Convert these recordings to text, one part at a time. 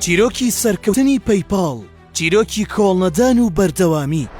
چیرۆکی سەرکەوتنی پەیپاڵ چیرۆکی کۆڵنەدان و بەردەوامی.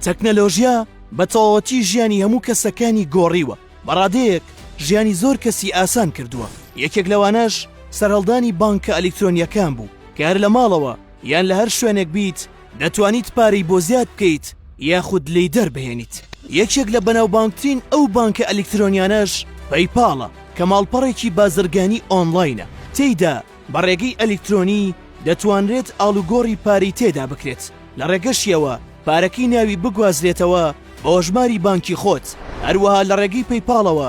تەکنەلۆژیا بە تەواوەتی ژیانی هەموو کەسەکانی گۆڕیوە، بە ڕادەیەک ژیانی زۆر کەسی ئاسان کردووە، یەکێک لەوانەش سەرهەڵدانی بانکە ئەلیکترۆنییەکان بوو کە هەر لە ماڵەوە، یان لە هەر شوێنێک بیت دەتوانیت پارەی بۆ زیاد بکەیت یاخود لێی دەربهێنیت یەکێک لە بەناوبانگترین ئەو بانکە ئەلیکترۆنیانەش پەیپاڵە کە ماڵپەڕێکی بازرگانی ئۆنڵاینە تێیدا بە ڕێگەی ئەلیکترۆنی دەتوانرێت ئاڵوگۆڕی پارەی تێدا بکرێت لە ڕێگەشیەوە پارەکەی ناوی بگوازرێتەوە بۆ هەژماری بانکی خۆت هەروەها لە ڕێگەی پەیپاڵەوە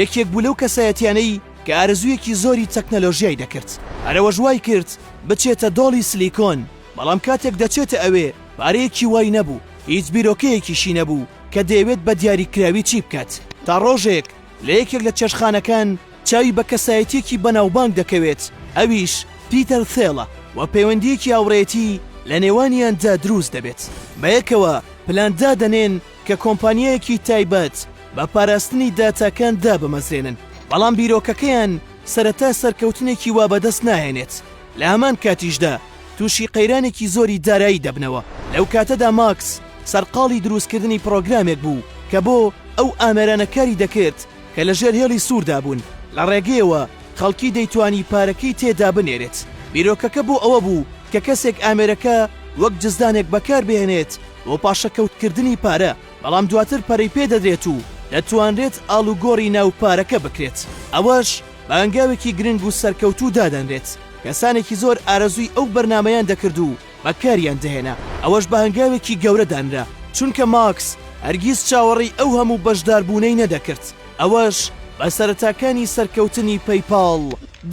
یەکێک بوو لەو کەسایەتیانەی کە ئارەزوویەکی زۆری تەکنەلۆژیای دەکرد، هەر ئەوەش وای کرد بچێتە دۆڵی سلیکۆن، بەڵام کاتێک دەچێتە ئەوێ پارەیەکی وای نەبوو، هیچ بیرۆکەیەکیشی نەبوو کە دەیەوێت بە دیاریکراوی چی بکات، تا ڕۆژێک لە یەکێک لە چێشتخانەکان چاوی بە کەسایەتیەکی بەناوبانگ دەکەوێت ئەویش پیتەر ثێلە و پەیوەندیەکی هاوڕێیەتی لە نێوانیاندا دروست دەبێت، بەیەکەوە پلان دادەنێن، کە کۆمپانیایەکی تایبەت بە پاراستنی داتاکان دابمەزرێنن، بەڵام بیرۆکەکەیان سەرەتا سەرکەوتنێکی وا بەدەست ناهێنێت، لە هەمان کاتیشدا تووشی قەیرانێکی زۆری دارایی دەبنەوە. لەو کاتەدا ماکس سەرقاڵی دروستکردنی پڕۆگرامێک بوو کە بۆ ئەو ئامێرانە کاری دەکرد کە لەژێر هێڵی سووردا بوون، لە ڕێگەیەوە خەڵکی دەیتوانی پارەکەی تێدا بنێرێت. بیرۆکەکە بۆ ئەوە بوو کە کەسێک ئامێرەکە وەک جزدانێک بەکاربهێنێت، بۆ پاشەکەوتکردنی پارە، بەڵام دواتر پەرەی پێدەدرێت و دەتوانرێت ئاڵوگۆڕی ناو پارەکە بکرێت، ئەوەش بە هەنگاوێکی گرنگ و سەرکەوتوو دادەنرێت، کەسانێکی زۆر ئارەزووی ئەو بەرنامەیان دەکرد و بەکاریان دەهێنا، ئەوەش بە هەنگاوێکی گەورە دانرا، چونکە ماکس هەرگیز چاوەڕێی ئەو هەموو بەشداربوونەی نەدەکرد، ئەوەش بە سەرەتاکانی سەرکەوتنی پەیپاڵ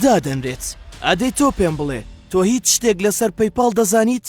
دادەنرێت. ئادەی تۆ پێم بڵێ تۆ هیچ شتێک لەسەر پەیپاڵ دەزانیت؟